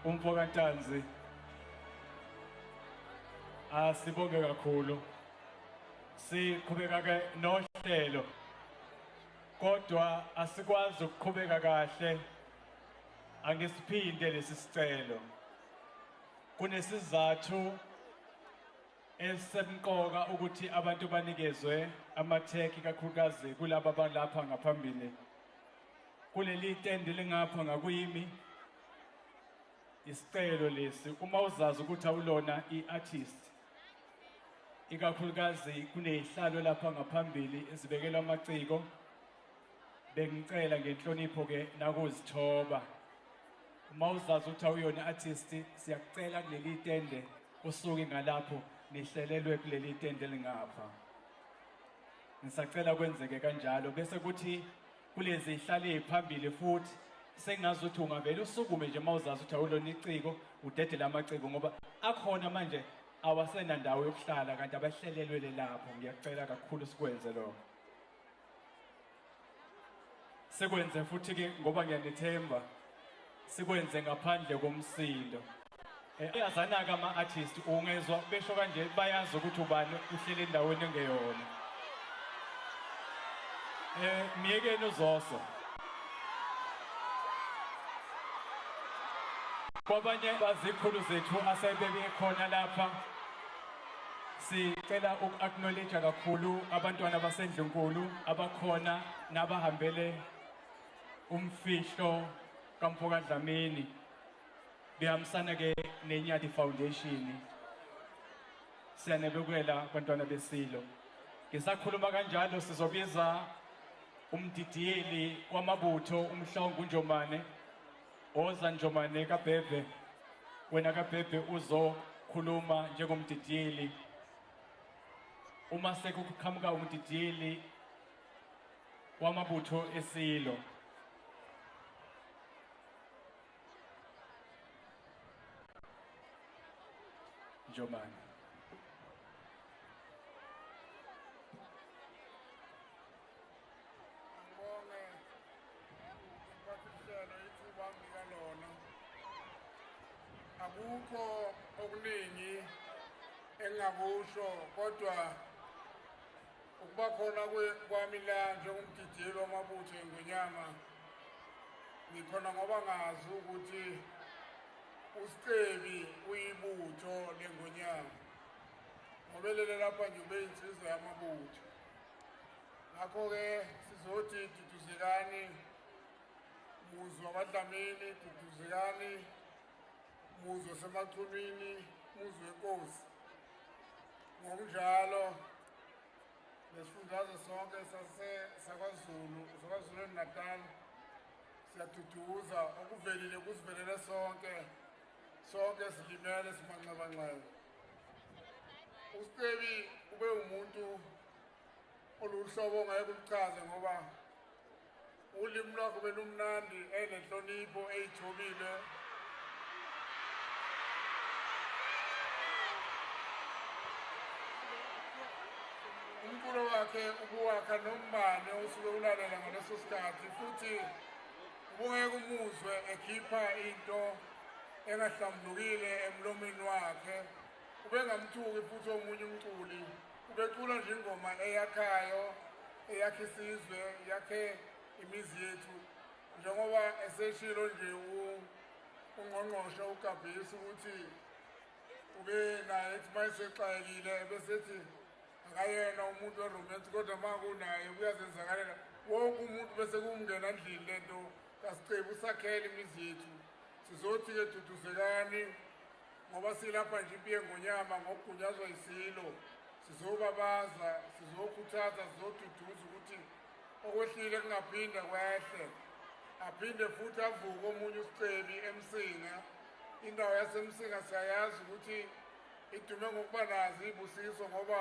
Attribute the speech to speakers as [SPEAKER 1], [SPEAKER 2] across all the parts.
[SPEAKER 1] Umfo kaNtanzi asibonge ah, kakhulu siqhubeka ke nohlelo kodwa asikwazi ukuqhubeka kahle angisiphinde lesi sicelo kunesizathu esemqoka ukuthi abantu banikezwe amatheki kakhulukazi kulaba balapha ngaphambili kuleli tende lingapha ngakuyimi Isicelo lesi uma uzazi ukuthi awulona i-artist ikakhulukazi kunezihlalo lapha ngaphambili ezibekela amaciko bengicela ngenhlonipho ke nakuzithoba uma uzazi ukuthi awuyona artist siyakucela kuleli tende usuke ngalapho nihlelelwe kuleli tende lingapha ngisacela kwenzeke kanjalo bese kuthi kulenze ihlale phambili futhi sengazi ukuthi ungavele usukume nje uma uzazi ukuthi awulona iciko udedele amaciko ngoba akhona manje awasenandawo yokuhlala kanti abahlelelwele lapho ngiyakucela kakhulu sikwenze lokho sekwenze futhi-ke ngoba ngiyanethemba sikwenze ngaphandle komsindo eh, ayazanaka ama-artist ungezwa besho kanje bayazi ukuthi ubani uhlele endaweni engeyona um myekeni uzoso kwabanye bazikhulu zethu asebebekhona lapha sicela uku-acknowledge kakhulu abantwana basendlunkulu abakhona nabahambele Umfihlo kamfoka Dlamini bihambisana ke neNyati Foundation siyanebekela bantwana besilo ngisakhuluma kanjalo sizobiza umdidiyeli wamabutho umhlongo uNjomane oza Njomane kaBhebhe wena kaBhebhe uzokhuluma njengomdidiyeli uma sekuqhamuka umdidiyeli wamabutho eSilo. Njomane. Ngibonge
[SPEAKER 2] ukuphathisela ithuba ngika lona. Akukho okuningi engakusho kodwa Ukuba khona kwami la njengomgideli wamabutho engonyama ngikhona ngoba ngazi ukuthi usicebi uyibutho lengonyama ngobelele lapha nje ube insizwa yamabutho ngakho-ke sizothi duduzekani muzwa abadlamini duduzekani muzi osemathunwini muzi wenkosi ngokunjalo nesifundazwe sonke sakwazulu sakwazulu natal siyaduduza okuvelile kusivelele sonke sonke silimele simanxebanxeba ustebi ube umuntu oluhlobo ngeke ulichaze ngoba Ulimi lwakho belumnandi enenhlonipho eyithobile. Umculo wakhe ukuwakha nombane osuke ulalela ngaleso sikhathi futhi ubungeke umuzwe ekhipha into engahlambulukile emlomeni wakhe ubengamthuki futhi omunye umculi Ubecula nje ingoma eyakhayo eyakhe isizwe yakhe imizi yethu njengoba eseshilo nje ungqongqoshe ugabhisi ukuthi ube naye ethi uma esexayekile besethi akayena umuntu weromansi kodwa uma kunaye kuyazenzakalela wonke umuntu bese kumngena ndlini le nto kasicebi usakhele imizi yethu sizothi-ke duduzekani ngoba silapha nje impi yengonyama ngokugunyazwa isilo sizobabaza sizokhuthaza sizoduduza ukuthi okwehlile kungaphinda kwehle aphinde futhi avuke omunye usicebi emsinga indawo yasemsinga siyayazi ukuthi idume ngokuba nazo iy'busiso ngoba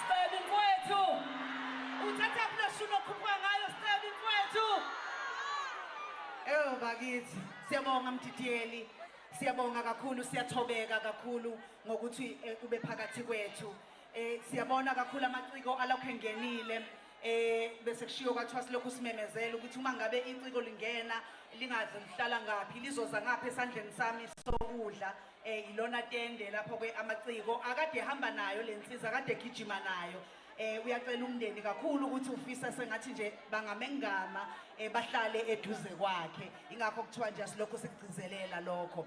[SPEAKER 3] Scebi mfwethu. Uthatha plashu nokhupha ngayo Scebi mfwethu. Eyo bakithi, siyabonga mdidiyeli. Siyabonga kakhulu, siyathobeka kakhulu ngokuthi eh, ube phakathi kwethu. Eh siyabona kakhulu amaciko alokho engenile. eh bese kushiyo kwathiwa silokhu simemezela ukuthi uma ngabe inciko lingena lingazi lihlala ngaphi lizoza ngapha esandleni sami sokudla eh ilona tende lapho ke amaciko akade ehamba nayo lensiza akade egijima nayo eh uyacela umndeni kakhulu ukuthi ufisa sengathi nje bangamengama eh bahlale eduze kwakhe ingakho kuthiwa nje silokho sikugcizelela lokho